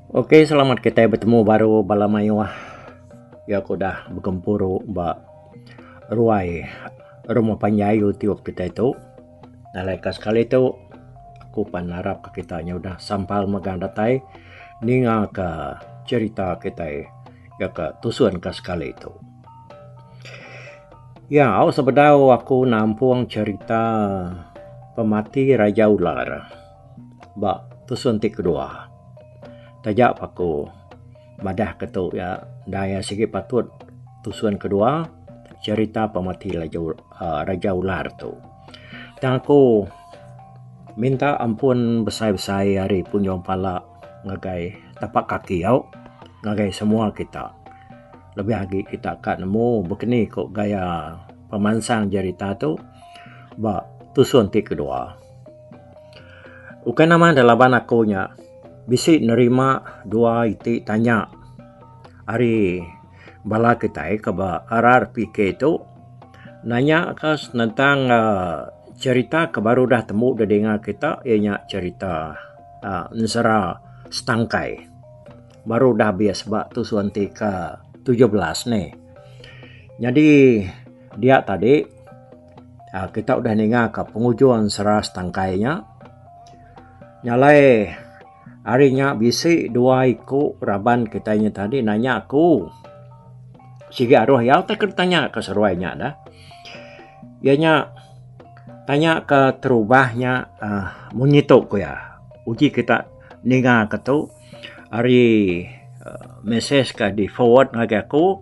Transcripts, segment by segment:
Ok selamat kitai betemu baru bala mayuh ya ku dah begempuru ba ruai rumah panjai YouTube kitai tu. Alai ka sekali tu aku pan ngarap ka kita nya udah sampal mega datai ninga ka cerita kitai ya ka tusun ka sekali tu. Ya au sebedau aku nampung cerita pemati Raja Ular. Ba tusun ti kedua, taja pa aku madah ke tu iya endang iya sigi patut tusun kedua cerita pemati Raja aaa Raja Ular tu. Tang aku minta ampun besai-besai ari punjung pala ngagai tapak kaki au ngagai semua kita. Lebih agi kita ka nemu bekeni ko gaya pemansang cerita tu ba tusun ti kedua. Ukai nama da laban aku nya bisi nerima dua iti tanya ari bala kitai ke ba RRPK tu nanya ka senentang cherita ke baru udah tembu da dinga kita iya nya cherita ensera setangkai baru udah habis ba tusun enti ke tujuh belas ni. Nyadi dia tadi. Ah kita udah ninga ka pengujung seras tangkai nya. Nya alai hari nya bisi dua iku raban kitai nya tadi nanya aku sigi aroh iya utai ke tanya ka seruai nya dah. Iya nya tanya ka terubah nya aaa mung ngitu ku iya. Uji kita ninga ka tu ari mesej ka di forward ngagai aku.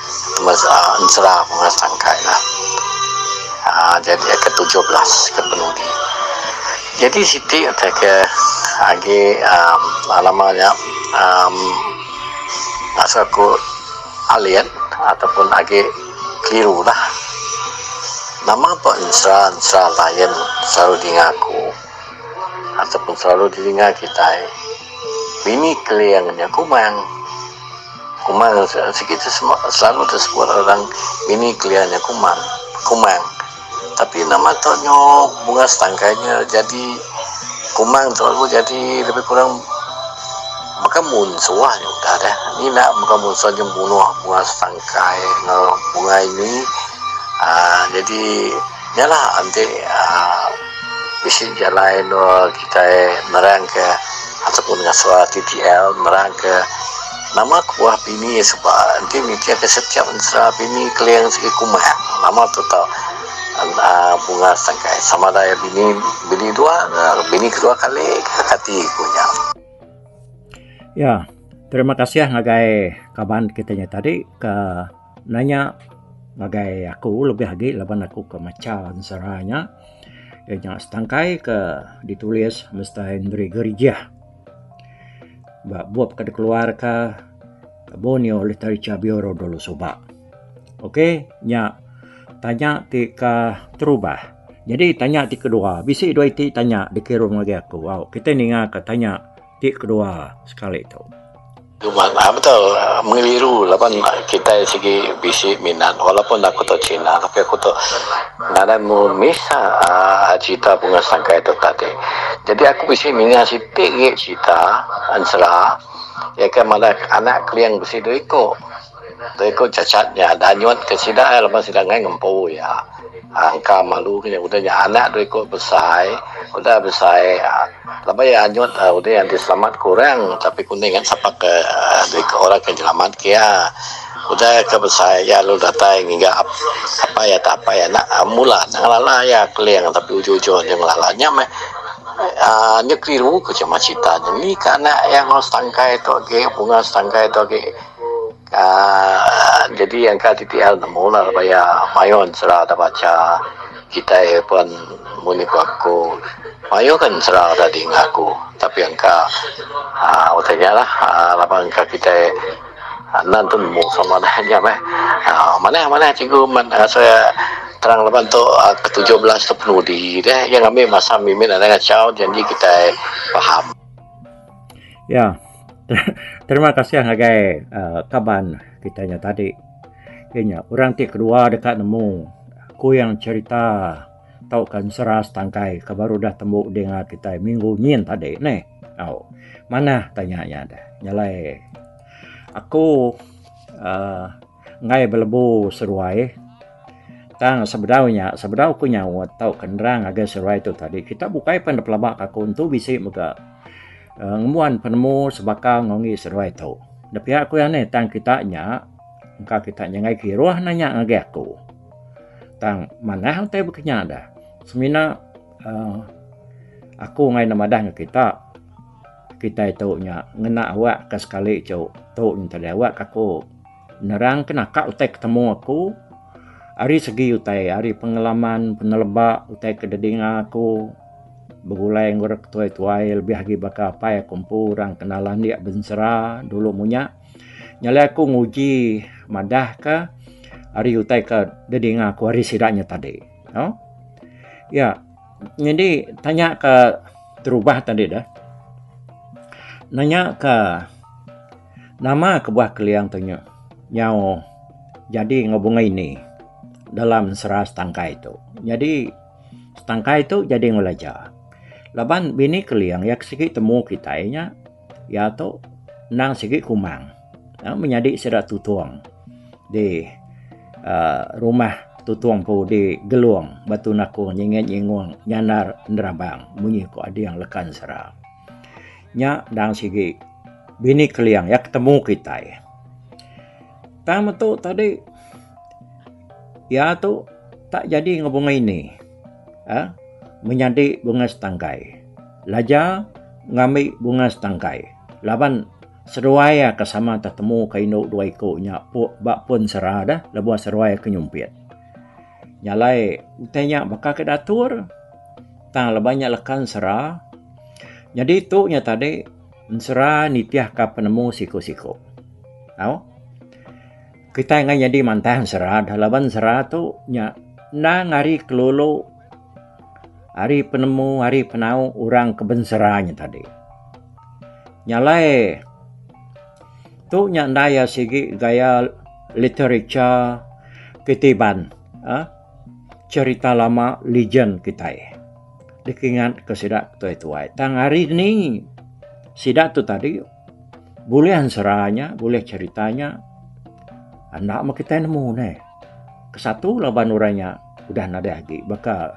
Semasa ensera bunga sangkai lah jadi ke tujuh belas ke penudi jadi siti utai ke agi nama nya asal ku alien ataupun agi keliru lah nama pun ensera ensera lion selalu di dinga aku ataupun selalu di dinga kitai bini keling nya kumang. Kumang, sigi ti selalu disebut orang ngini kelia nya kumang, kumang. Tapi nama tu nyu bunga setangkai nya jadi kumang tu lalu jadi lebih kurang baka mun suah nya udah deh. Ngina baka mun suah nya bunuh bunga setangkai enggau bunga ini aaa jadi nya lah enti aaa. Bisi jalai endur kitai nerangka ataupun ngasuh TTL nerangka nama kebuah pini suba enti mikirka setiap ensera pini keling sigi kumah nama tu tau aaa bunga setangkai sama ada iya bini bini dua ka bini kedua kali ka kati ku nya. Ya terima kasih ngagai kaban kita nya tadi ka. nanya ngagai aku lebih agi laban aku ke macha ensera nya iya nya setangkai ke ditulis Mister Henry Gerijah ba bup ke dikeluarka Borneo Literature Bureau dulu suba. Ok nya tanya ti ke terubah. Jadi tanya ti kedua bisi dua iti tanya dikirumka aku au kitai ninga ka tanya ti kedua sekali tu. Haa betul mengeliru laban kitai sigi bisi minat walaupun aku tu Cina tapi aku tu ngadan mu Misa aa cerita bunga sangkai tu tadi jadi aku bisi ninga siti agi cerita ensera iya ke madah anak keling bisi dua iku. Reko Chachat nya danyut ke sida laban sida enggai ngempu iya. Angka malu ke nya udah nya anak dua iko besai, udah besai laban iya anyut udah iya diselamat kurang tapi ku enda ingat sapa ke dua iko orang ke nyelamat ke iya. Udah iya ke besai iya lalu datai ngiga apai atau apai anak mula enda ngelala iya keling tapi ujung-ujung nya ngelala. Nya meh aaa nya keliru ku sema serita nya. Ni ke anak iya enggau setangkai tu agi bunga setangkai tu agi. Aaa jadi engka siti hal nemu lah laban iya mayuh ensera da bacha kitai pen mun iko aku mayuh gin ensera da dinga aku tapi engka aaa utai nya lah aaa laban engka kitai enda nentu nemu sama da nya meh aaa manah manah cikgu men asai terang laban tu ke tujuh belas tu penudi deh iya ngambi masa mimin anang achau janji kitai paham. Ya. Terima kasih ngagai uhh kaban kita nya tadi. Iya nya orang ti kedua deka nemu ku yang cerita tauka ensera setangkai ke baru udah tembu ding ngagai kitai minggu nyin tadi neh. Au. Manah tanya nya deh. Nyelai. Aku uhh. enggai belebu seruai tang sebedau nya sebedau ku nyaut tauka nerang ngagai seruai tu tadi kita bukai pan dipelaba ka aku entu bisi mega um ngembuan penemu sebaka enggau ngi seruai tu. Da pia ku iya nih tang kita nya engka kita nyengai kiruh neh nya ngagai aku tang manah utai baka nya dah semina um aku engai ne madah enggau kita kitai tu nya ngena awak ka sekali tu tu ntah awak ka aku. Nerang ke naka utai ke temu aku ari segi utai ari pengalaman peneleba utai ke didinga aku begulai enggau orang ke tuai-tuai lebih agi baka apai aku empu orang ke nalan andi bensera dulu munya nyadi aku nguji madah ka ari utai ke didinga aku ari sida nya tadi no ya nyadi tanya ke terubah tadi deh nanya ka Nama kebuah Keliang tu nyu nyau jadi enggau bunga ini dalam sera setangkai tu. Jadi setangkai tu jadi enggau laja. Laban bini Keliang iya ke sigi temu kitai nya iya tu endang sigi kumang menyadi sida tutong di aaa rumah tutong empu di Gelong, Batu Nakong, Nyinget Nyingong, Nyandar Enderabang munyi ku ading lekan sera. Nya endang sigi Bini Keliang iya ke temu kitai. Tang metu tadi iya tu tak jadi enggau bunga ini uhh menyadi bunga setangkai laja ngambi bunga setangkai laban seduai iya ke sama tetemu ka indu dua iku nya ba pun sera deh lebuh seduai ke nyumpit. Nya alai utai nya baka ke diatur tang laban nya leka ensera. Nyadi tu nya tadi ensera nitihka penemu siku-siku. Tau? Kitai enggai nyadi mantah ensera dah laban ensera tu nya endang ari kelulu ari penemu ari penau orang ke bensera nya tadi. Nyalai tu nya enda iya sigi gaya literature titiban eh, cerita lama legend kitai dikingat ke sida tuai-tuai. Tang hari ni sida tu tadi Bulih ensera nya, bulih cherita nya enda meh kitai nemu neh. Kesatu laban orang nya udah nadai agi baka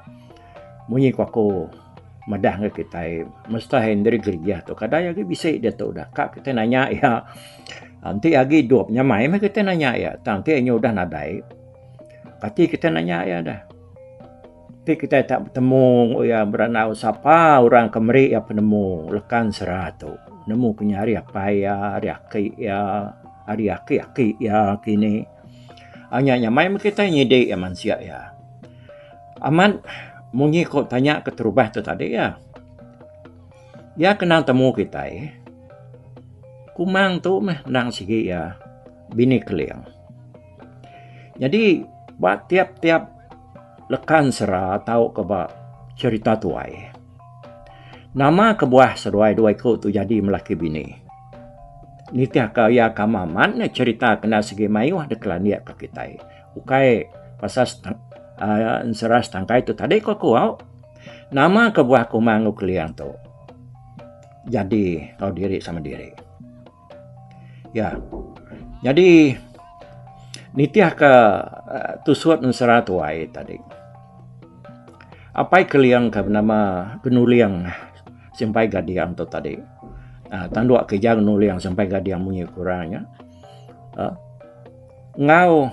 munyi ku aku madah ngen kitai Mister Henry Grigia tu kadai agi bisi diatu udah ka kitai nanya iya enti agi idup nya mai meh kitai nanya iya tang enti inya udah nadai kati kitai nanya iya deh. Ti kitai tak betemu enggau iya berandau sapa orang ke meri iya penemu lekan sera tu. Nemu ke nya ari apai iya, ari aki iya, ari aki-aki iya kini. Au nya nyamai meh kitai nyidi iya mansik iya. Amat munyi ku tanya keterubah tu tadi iya. Iya kenang temu kitai kumang tu meh endang sigi iya Bini Keling. Nyadi ba tiap-tiap Lekan sera tau ke ba cherita tuai. Nama kebuah seduai dua iku tu jadi melaki bini. Nitih ka iya ka amat amat nya cherita kena segi mayuh de kelandik ka kitai. Ukai pasal ensera setangkai tu tadi ku aku au. Nama kebuah kuma enggau keling tu jadi tau diri sama diri. Ya. Nyadi nitihka eh, tusut ensera tuai tadi. Apai keliang ke bernama Genuliang Simpai Gadiang tu tadi. Uh, tanduk ke jang Genuliang Simpai Gadiang munyi kurangnya. Uh, ngau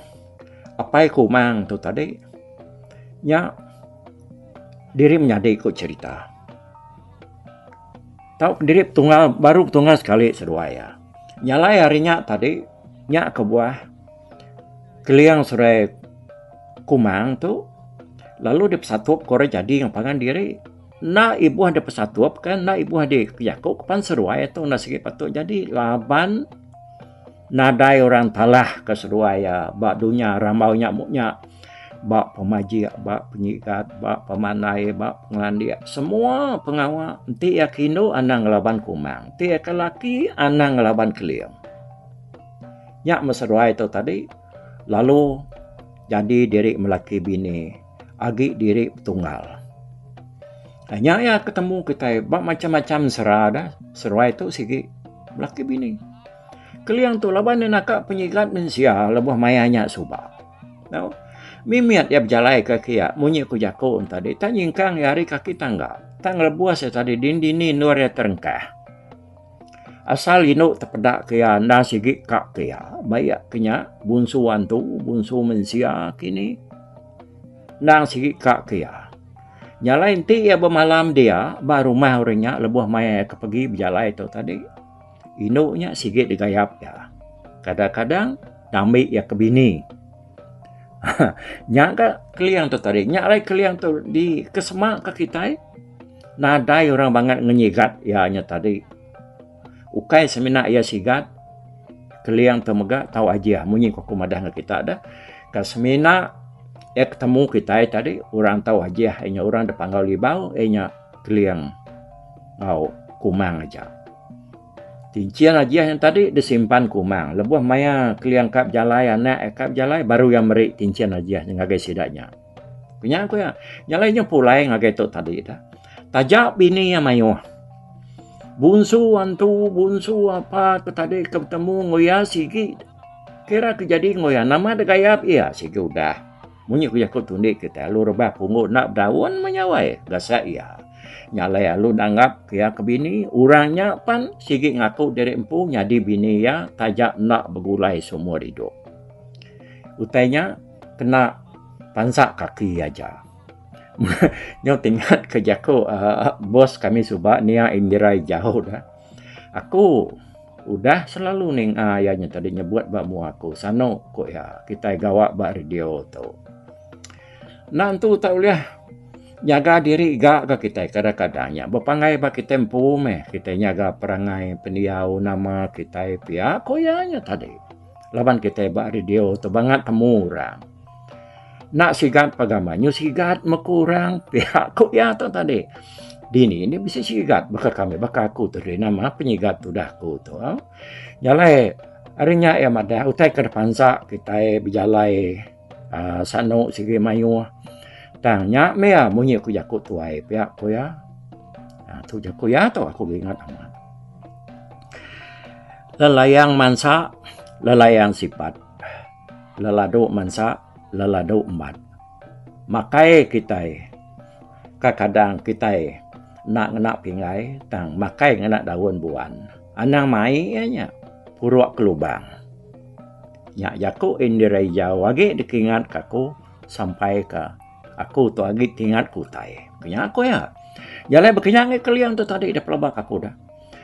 apai kumang tu tadi. Nya diri menyadi ku cerita. Tau kediri petunggal baru petunggal sekali seduai iya. Nyalai hari nya tadi nya kebuah keliang serai kumang tu lalu dipesatup ke orang jadi ngan pangan diri enda ibuh dipesatup ke enda ibuh dijaku ke pan seduai tu enda sigi patut jadi laban Nadai orang talah ke seduai iya ba dunya rambau nya mu nya. Ba pemajik, ba penyigat, ba pemandai, ba pengelandik, semua pengawa enti iya ke indu anang ngelaban kumang, enti iya ke laki anang ngelaban keling. Nya meh seduai tu tadi lalu jadi diri melaki bini agi diri betunggal. Nya iya ke temu kitai ba macam-macam sera dah seduai tu sigi laki bini. Keling tu laban iya naka penyigat mensia lebuh maya nya suba. Tau. Mimit iya bejalai ke kiya munyi ku jaku ne tadi tak nyingkang iya ari kaki tangga. Tak ngelebus iya tadi din dini endur iya terengkah. Asal indu tepeda ke iya enda sigi ka ke iya. Ba iya ke nya bunsu antu bunsu mensia kini endang sigi ka ke iya. Nya alai enti iya bemalam dia ba rumah orang nya lebuh maya iya ke pegi bejalai tu tadi. Indu nya sigi digayap iya. Kadang-kadang diambi iya ke bini. nya ga keling tu tadi. Nya alai keling tu dikesemaka kitai nadai orang bangat ngenyigat iya nya tadi. Ukai semina iya sigat keling tu mega tau aji munyi ku aku madah ngan kita dah ka semina iya ketemu kitai tadi orang tau aji iya nya orang da panggau libau iya nya keling enggau kumang aja. Tinchin ajih yang tadi disimpan kumang lebuh maya keliang ka bejalai anak ka bejalai baru iya meri tinchin ajih nya ngagai sida nya. Kunya ku iya, nyalai nya pulai ngagai tu tadi dah. Taja bini iya mayuh. Bunsu antu, bunsu apa ke tadi ke betemu enggau iya sigi. Kira ke jadi enggau iya nama degayap iya sigi udah. Munyi ku jaku tu indi kitai alu rebah punggu enda bedaun meh nyawai gasak iya. Nya alai alu enda anggap ke iya ke bini orang nya pan sigi ngaku diri empu nyadi bini iya taja enda begulai seumur idup. Utai nya kena pansa kaki aja. Nyau ti ingat ke jaku uhh bos kami suba nia Indira Ijau dah. Aku Udah selalu ninga iya nya tadi nyebut ba mua aku sanu ku iya kitai gawa ba radio tu. Enda entu tak ulih nyaga diri ga ga kitai kadang kadang nya bepanggai ba kitai empu meh kitai nyaga perangai pendiau nama kitai pia ku iya nya tadi. Laban kitai ba radio tu bangat temu orang. Enda sigat pegama nyu sigat meku orang pia ku iya tu tadi. Dini nya bisi sigat baka kami baka aku tu diri nama penyigat tudah aku tu. Jalai ari nya iya madah utai ke dipansa kitai bejalai Uh, sanu sigi mayuh. Tang nya meh ya munyi ku jaku tuai pia ku ya. Uh, ah, tu jaku ya tu aku ingat amat. Lelayang mansa, lelayang sifat. Leladu mansa, leladu embat. Makai kita kadang kita nak ngena pinggai tang makai ngena daun buan. Anang mai nya puruk ke lubang. Nya jaku Indira Ijau agi dikingat ka aku sampai ke aku tu agi tingat ke utai. Nya aku iya. Jalai bekinya ngi keliang tu tadi dah pelaba ka aku dah.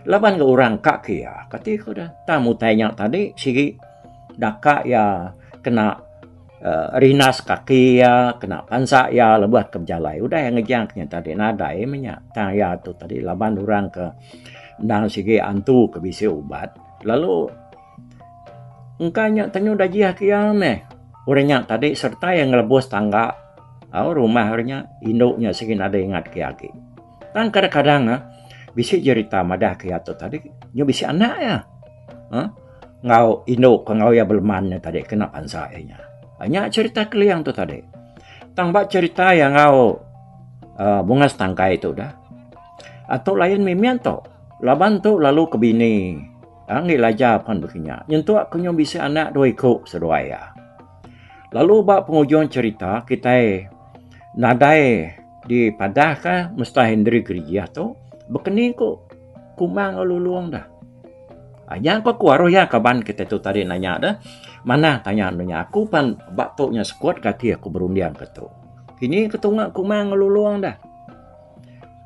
Laban ke orang ka ke iya kati ku dah. Tang utai nya tadi sigi daka iya kena uh, rinas kaki iya, kena pansa iya lebuh ke bejalai. Udah iya ngejang nya tadi nadai meh nya. Tang iya tu tadi laban orang ke endang sigi antu ke bisi ubat lalu Engka nya tenyu dajih ati iya meh. Orang nya tadi sereta iya ngelebus tangga au rumah orang nya indu nya sigi nadai ingat ke iya agi. Tang kadang-kadang neh bisi jerita madah ke iya tu tadi nya bisi anak iya uhh enggau indu ke enggau iya beleman nya tadi kena bansa iya nya. Nya jerita Keling tu tadi. Tang ba jerita iya enggau uhh bungas tangkai tu dah, atu lain mimit tu laban tu lalu ke bini. Anggih Laja pan baka nya. Nyentuk ke nyau bisi anak dua iku seduai iya. Lalu ba pengujung cerita kitai nadai dipadahka Mestai Hendri Gerijah tu bekeni ku Kumang enggau Lulong dah. Anya pa ku aruh iya kaban kitai tu tadi nanya dah. Manah tanya enda nya. Aku pan ba tu nya sekut ke ati aku berunding ke tu. Kini ke tunga Kumang enggau Lulong dah.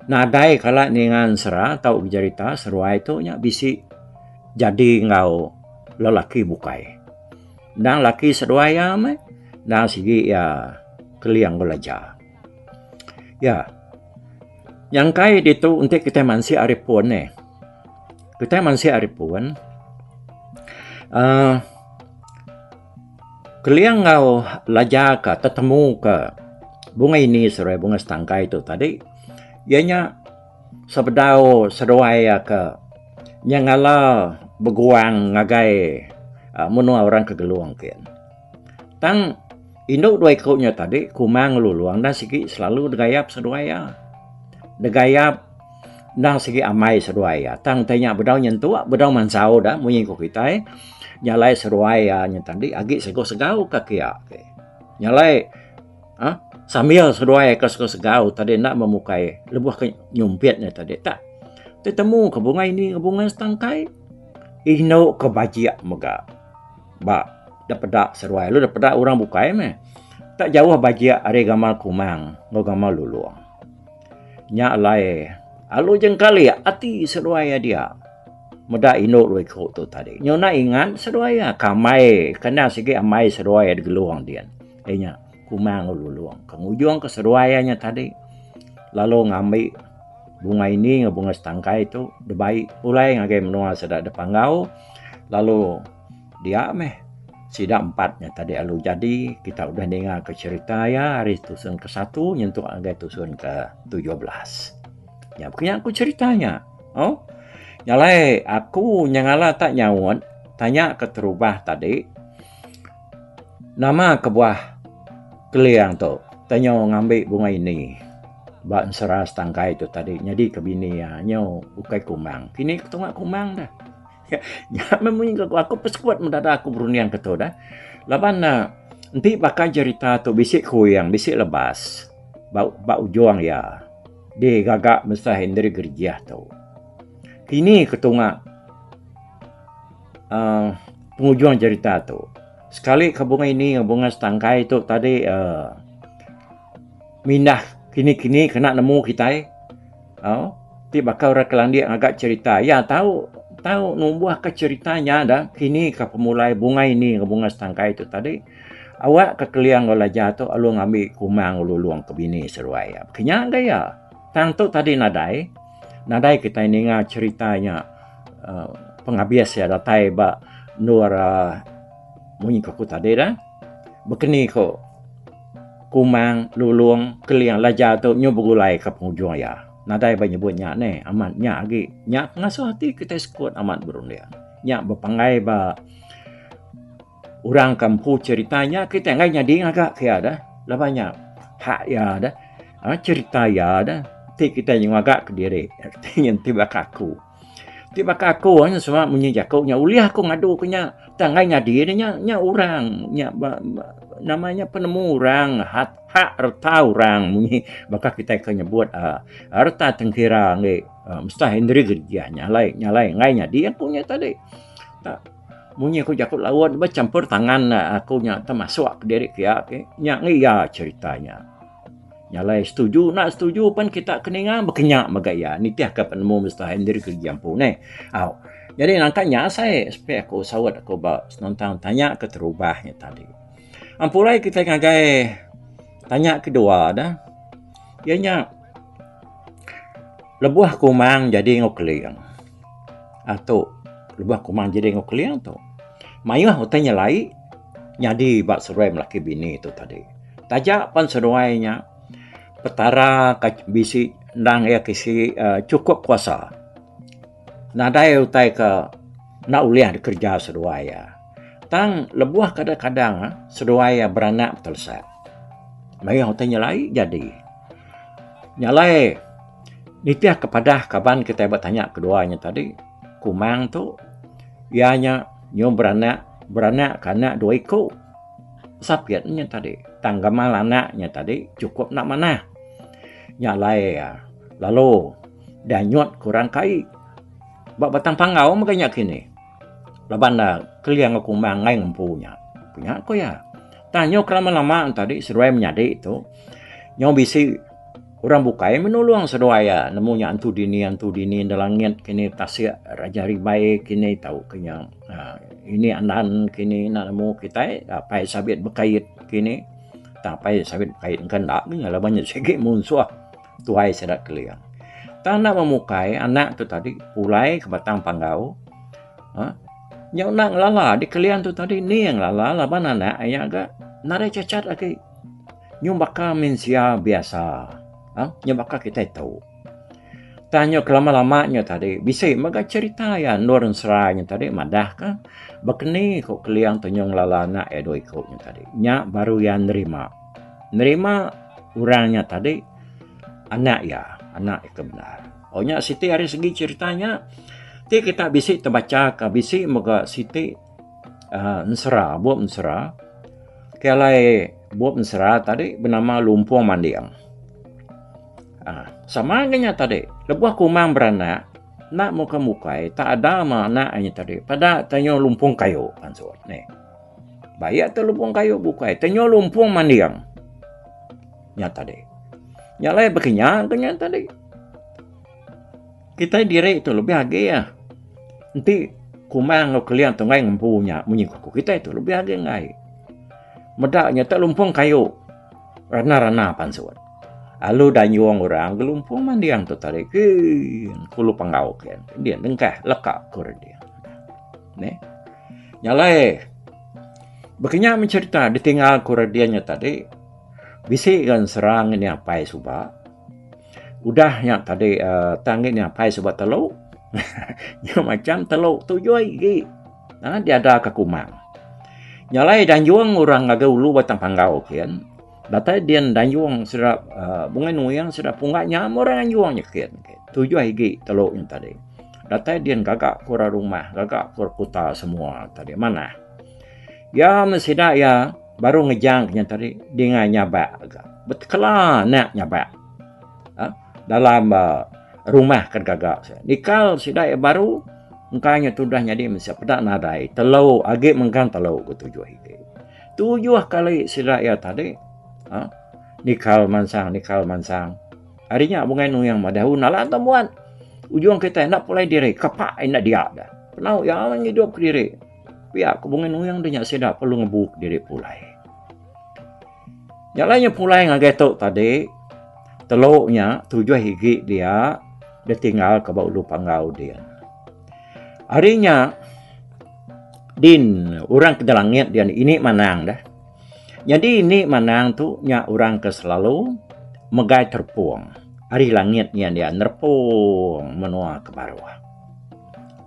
Nadai kala ninga ensera tau bejerita seruai tu nya bisi jadi enggau lelaki bukai. Endang lelaki seduai iya meh endang sigi iya keling belaja. Ya nyangkai ditu enti kitai mansik ari pun nih. Kitai mansik ari pun uhh Keling enggau laja ka tetemu ka bunga ini seduai bunga setangkai tu tadi iya nya sebedau seduai iya ka nyengala beguang ngagai aaa menua orang ke Gelong ti. Tang indu dua iku nya tadi kuma ngelulung enda sigi selalu degayap seduai iya. Degayap. Endang sigi amai seruai ya. Tang tai nya bedau nyentu, bedau mansau dah munyi ku kitai. Nyalai seruai ya nya tadi agi sego segau ka kia. Nyalai ha? sambil seruai ka sego segau tadi enda memukai lebuh ke nyumpit nya tadi tak. Tetemu ke bunga ini ke bunga setangkai. Inu ke bajik mega. Ba da peda seruai lu da peda orang bukai meh. Tak jauh bajik ari gamal kumang enggau gamal lulong. Nya alai alu jengkalik ati seduai adia meda indu dua iku tu tadi. Nyuna ingat seduai iya ke amai ke enda sigi amai seduai digelung din. Iya nya Kumang Lulong ke ngujungka seduai iya nya tadi lalu ngambi bunga ini enggau bunga setangkai tu dibai pulai ngagai menua sida dipanggau lalu Dia meh sida empat nya tadi lalu jadi kita udah ninga ke cerita iya ari tusun ke satu nyentuk ngagai tusun ke tujuh belas. Nya pekenya aku cerita nya. Oh. Nyalai aku nya ngala tak nyaut tanya ke terubah tadi nama kebuah keliang tu tanya ngambi bunga ini ba ensera setangkai tu tadi nyadi ke bini iya nyu ukai kumang kini ketunga kumang dah. Nya meh munyi gaga aku pesekut meh dada aku berunding ke tu dah. Laban ne enti baka jerita tu bisi kuing bisi lebas ba ba ujung iya di gaga Mister Henry Gerijah tu. Kini ke tunga uh, pengujung cerita tu. Sekali ke bunga ini dengan bunga setangkai tu tadi uh, mindah kini-kini kena nemu kita Au, ti baka orang ke landik ngaga cherita iya tau tau numbuh ka cherita nya dah kini ka pemulai bunga ini enggau bunga setangkai tu tadi awak ka keling enggau laja tu lalu ngambi kumang lulong ke bini seruai iya. Kenya ga iya. Tang tu tadi nadai nadai kitai ninga cherita nya uh, pengabis iya datai ba endur uh, munyi ke ku tadi dah. Bekeni ko Kumang Lulong Keling Laja tu nyu begulai ka pengujung iya. Nadai ba nyebut nya neh amat nya agi nya pengasuh ati kitai sekut amat berunding. Nya bepanggai ba orang ke empu cerita nya kitai enggai nyadi ngaga ka iya deh laban nya hak iya deh cerita iya deh ti kitai nyu ngaga kediri ti baka aku. Ti baka aku nya sumak munyi jaku nya ulih aku ngadu ku nya tang enggai nyadi ne nya nya orang nya ba ba nama nya penemu orang hak hak reta orang munyi baka kitai ke nyebut aaa reta tengkira ngi aaa Mustah Henry Gereja nya alai nya alai enggai nyadi aku nya tadi. Ba munyi ku jaku laun ba champur tangan aku nya temasuk diri pia ke nya ngi iya cherita nya. Nya alai setuju enda setuju pen kita ke ninga baka nya mega iya nitih ka penemu Mister Henry Kereja empu neh. Au nyadi nangka nya asai sepe aku saut aku ba senentang tanya ke terubah nya tadi. Empu alai kitai ngagai tanya kedua dah iya nya Lebuh kumang jadi enggau keling. Aaa tu lebuh kumang jadi enggau keling tu mayuh utai nyelai nyadi ba seduai lelaki bini tu tadi. Taja pen seduai nya petara ka bisi endang iya ke si aaa chukup kuasa nadai utai ke enda ulih dikereja seduai iya. Tang lebuh kadang kadang seduai iya beranak betelesak mayuh utai nyelai jadi. Nya alai nitihka padah kaban kitai ba tanya kedua nya tadi, Kumang tu iya nya nyuh beranak, beranakka anak dua iku. Sapit nya tadi tang gamal anak nya tadi chukup enda manah. Nya alai iya lalu danyut kurang kai ba batang panggau mega nya kini. Laban da Keling aku meh angai ngempu nya. Ku nya ku iya. Tang nyau ke lama-lama tadi seduai menyadi tu nyau bisi orang bukai meh nulung seduai iya nemu nya antu dini antu dini enda langit kini tasik raja rimbai kini tau ke nya aaa ini andan kini enda nemu kitai apai sabit bekait kini. Tang apai sabit bekait engka enda ke nya laban nya sigi munsuh. Tuai Sada Keling. Tang enda memukai anak tu tadi pulai ke batang panggau. Ha? Nya enda ngelala di Keling tu tadi ni yang ngelala laban anak iya ga nadai cacat lagi. Nyu baka mensia biasa. Ha? Nyu baka kitai tu. Tang nyu kelama-lama nyu tadi bisi mega cerita iya endur ensera nyu tadi madah ke bekeni ku Keling tu nyu ngelala anak iya dua iku nyu tadi. Nya baru iya nerima. nerima orang nya tadi anak iya, anak iya ke bendar. Oh nya siti ari segi cerita nya ti kita bisi tebacha ka bisi mega siti uh, ensera, bup ensera. Ke alai bup ensera tadi bernama Lumpung Manding. Uh, sama nya tadi, lebuh kumang beranak, nak muka mukai tak ada ma anak nya tadi. Pada tanya lumpung kayu pansut ni. Bayak telupung kayu bukai tenyo lumpung manding. Nya tadi. Nya alai baka nya ke nya tadi. Kitai diri tu lebih agi iya. Enti kuma enggau keling tunggai ngempu nya munyi ku kitai tu lebih agi enggai. Meda nya tu lumpung kayu rana-rana pansut. Alu dayung orang gelumpung manding tu tadi. Gee. Kulu penggau ke. Dia nengkah leka ke orang dia. Neh. Nya alai baka nya mencerita ditingal ku Radian nya tadi bisi nya serang ini apai suba udah nya tadi eh, tang ini apai suba telu nya macam telu tuyui gi ha, diada ke kumang. Nya alai danjung orang ngagai ulu batang panggau kian Datai din danjung sida bungai nuing sida pungga nya meh orang anjung nyekit. Tujuh igi telu nya tadi. Datai din gaga ke orang rumah gaga ke orang kuta semua tadi manah. Iya meh sida iya baru ngejang ke nya tadi dingan nyabak ga betekela anak nyabak aaa dalam rumah ke gaga sida. Nikal sida iya baru engka nya tudah nyadi meh sida peda nadai telu agi menggang telu ke tujuh igi. Tujuh kali sida iya tadi. Ha? Nikal mansang, nikal mansang. Hari nya bungai nuyang madah un alah entah buat. Ujung kita enda pulai diri, kepak enda dia dah. Penau iya awan ngidup ke diri. Pia ke bungai nuyang dia nya sida perlu ngebu ke diri pulai. Nya lain pulai ngagai tu tadi. Telu nya tujuh igi dia ditinggal ke ba ulu panggau dia. Hari nya Din, orang ke ngelangit dian ini manang dah. Nyadi ini manang tu nya orang ke selalu megai terpung ari langit nya dia nerpung menua ke baruh.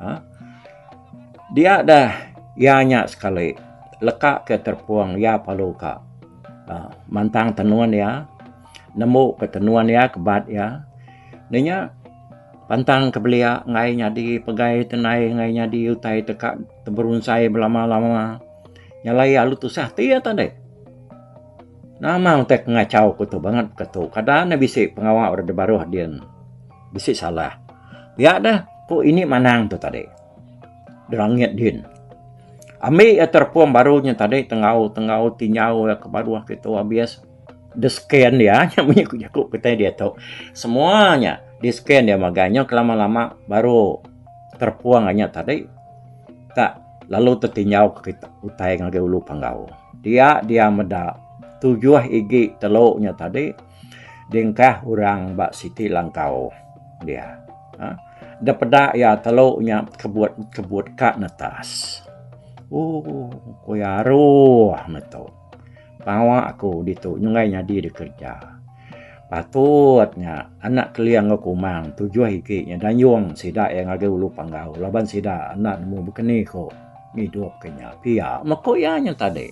Ha? Dia dah ia nya sekali leka ke terpung ia perlu ka ha, mantang tenun ia nembu ke tenun ia kebat ia. Nya Pantang ke belia enggai nyadi pegai te nai enggai nyadi utai te ka teberunsai belama-lama. Nyalai alu tusah ti ya tadai. Nama utai ke ngachau ku tu banget ke tu. Kada ne bisi pengawa orang da baruh din. Bisi salah. Pia deh ku ini manang tu tadi. Da langit din. Ambi ya terpung baru nya tadi tenggau tenggau ti nyau ya ke baruh ke tu abis. The scan dia nya munyi ku jaku kitai diatu. Semua nya di scan dia magang nya kelama lama baru terpuang ga nya tadi ka lalu tetinjau ka kitai utai ngagai ulu panggau. Dia dia meda tujuh igi telu nya tadi dingkah orang ba siti langkau dia. Aaa dep peda ia telu nya kebut kebut ka netas. Ooh ku ia aroh meto. Pengawa aku ditu nyunggai nyadi da kereja. Patut nya anak kelia enggau kumang tujuh igi nya dayung sida iya ngagai Ulu Panggau laban sida enda nemu bekeni ku ngidupka nya pia meh ku iya nya tadi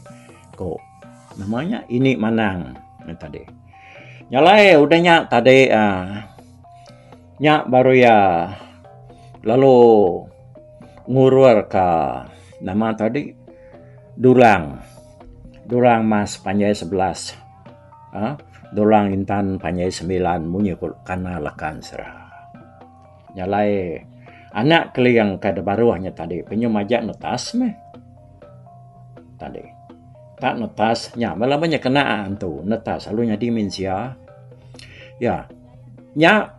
ku nama nya Ini Manang nya tadi. Nya alai udah nya tadi uhh. Nya baru iya lalu ngurur ka nama tadi durang. Durang mas panjai sebelas aaa durang intan panjai semilan munyi ku kana lakan sera. Nya alai anak Keling ka da baruh nya tadi penyuh maja netas meh tadi ta netas nya bala ba nya kena antu netas lalu nyadi mensia iya. Nya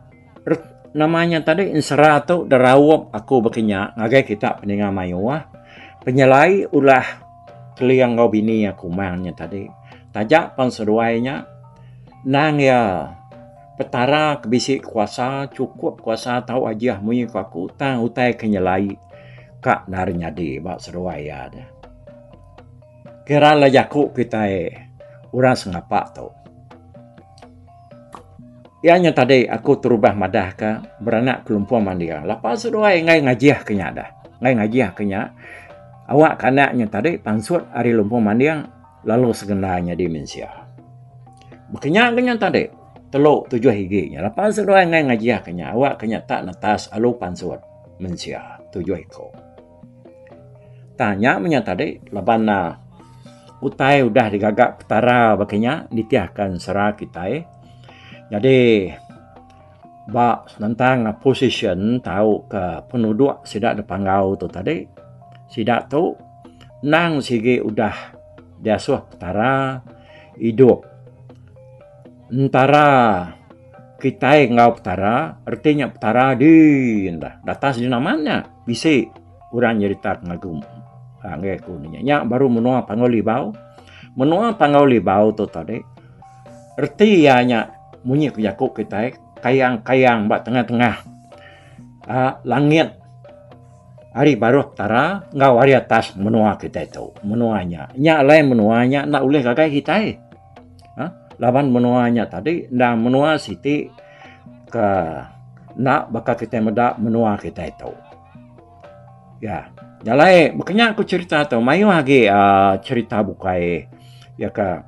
nama nya tadi ensera tu deraup aku baka nya ngagai kita ninga mayuh ah penyelai ulah keling enggau bini iya kumang nya tadi taja pan seduai nya nang iya petara ke bisi kuasa cukup kuasa tau ajih munyi ku aku tang utai ke nyelai ka nari nyadi ba seduai iya tu kira lah jaku kitai orang sengapa tu. Iya nya tadi aku terubah madah ka beranak kelumpung mandir lapa seduai enggai ngajih ke nya dah. Enggai ngajih ke nya awak ke anak nya tadi pansut ari lumpung mandir lalu sekenda nyadi mensia. Baka nya ke nya tadi telu tujuh igi nya lapa seduai enggai ngajih ke nya awak ke nya tak netas alu pansut mensia tujuh iku. Tanya meh nya tadi laban utai udah digaga Petara baka nya nitihka sera kitai. Jadi ba senentang position tauka penuduk sida dipanggau tu tadi sida tu endang sigi udah diasuh Petara idup entara kitai enggau Petara reti nya Petara dii enda datai sidi naman nya. Bisi orang nyerita pengagum. Ha ngai aku nya. Nya baru menua Panggau Libau. Menua Panggau Libau tu tadi reti iya nya munyi ke jaku kitai kayang-kayang ba tengah-tengah uh, langit hari baruh petara enggau hari atas menua kita itu menua nya nya lain menua nya ndak boleh gagai kita ha? laban menua nya tadi nda menua siti ke enda baka kitai meda menua kitai tu. Ya, jalai baka nya ku cherita tu mayuh agi aaa cherita bukai iya ke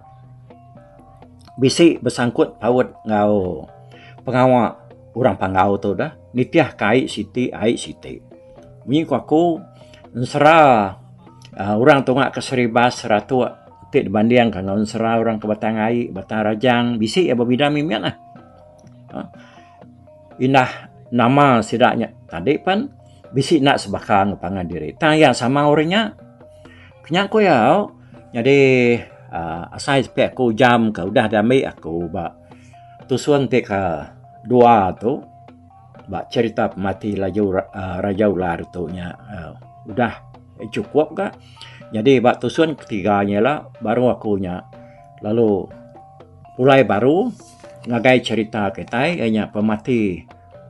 bisi besangkut paut enggau pengawa orang Panggau tu deh nitih ka ai siti ai siti. Munyi ku aku ensera aaa orang tunga ke Seribas, Seratok ti dibandingka enggau ensera orang ke Batang Ai, Batang Rajang bisi iya bebida mih mih lah. Aaa indah nama sida nya tadi pen bisi enda sebaka enggau pangan diri tang iya sama orang nya. Kinya ku iya au nyadi aaa asai sepi aku ujam ka udah diambi aku ba tusun ti ka dua tu ba cherita pemati laju aaa Raja Ular tu nya au udah chukup ka. Nyadi ba tusun ketiga nya ila baru aku nya lalu. Pulai baru ngagai cherita kitai iya nya pemati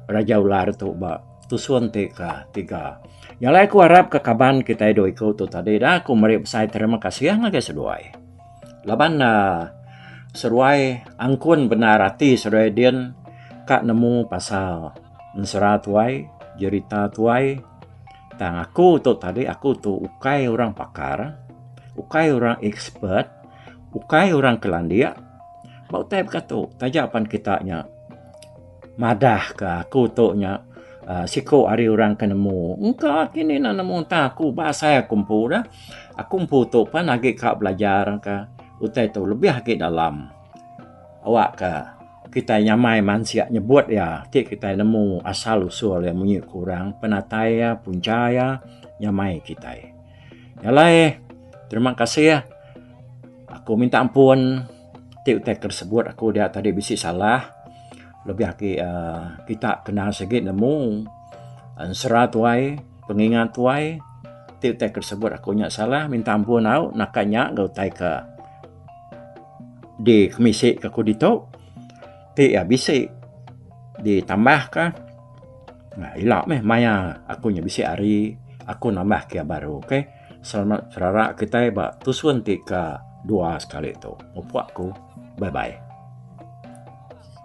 Raja Ular tu ba tusun ti ke tiga. Nya alai aku arap ke kaban kitai dua iku tu tadi dah aku meri besai terima kasih ngagai seduai. Laban uhh seduai angkun bendar ati seduai din ka nemu pasal ensera tuai, jerita tuai tang aku tu tadi aku tu ukai orang pakar, ukai orang expert. Ukai orang ke landik ba utai bekatu taja pan kita nya madah ke aku tu nya ah, siku ari orang ke nemu. Engka kini nak nemu entah aku ba asai aku empu dah. Aku empu tu pan agi ka belajar ke utai tu lebih agi dalam. Awak ke kita nyamai mansik nyebut iya ti kita nemu asal usul iya munyi ke orang penatai iya punca iya nyamai kita. Nya alai terima kasih aku minta ampun ti utai ke sebut aku dia tadi bisi salah lebih agi uhh kita kena sigi nemu ensera tuai pengingat tuai ti utai ke sebut aku nya salah minta ampun au naka nya ga utai ke dikemisi ke aku ditu. Ti iya bisi ditambah ka nah ila meh maya aku nya bisi hari aku nambah ke iya baru okay selamat serara kitai ba tusun ti ka dua sekali tu mupok ku bye bye.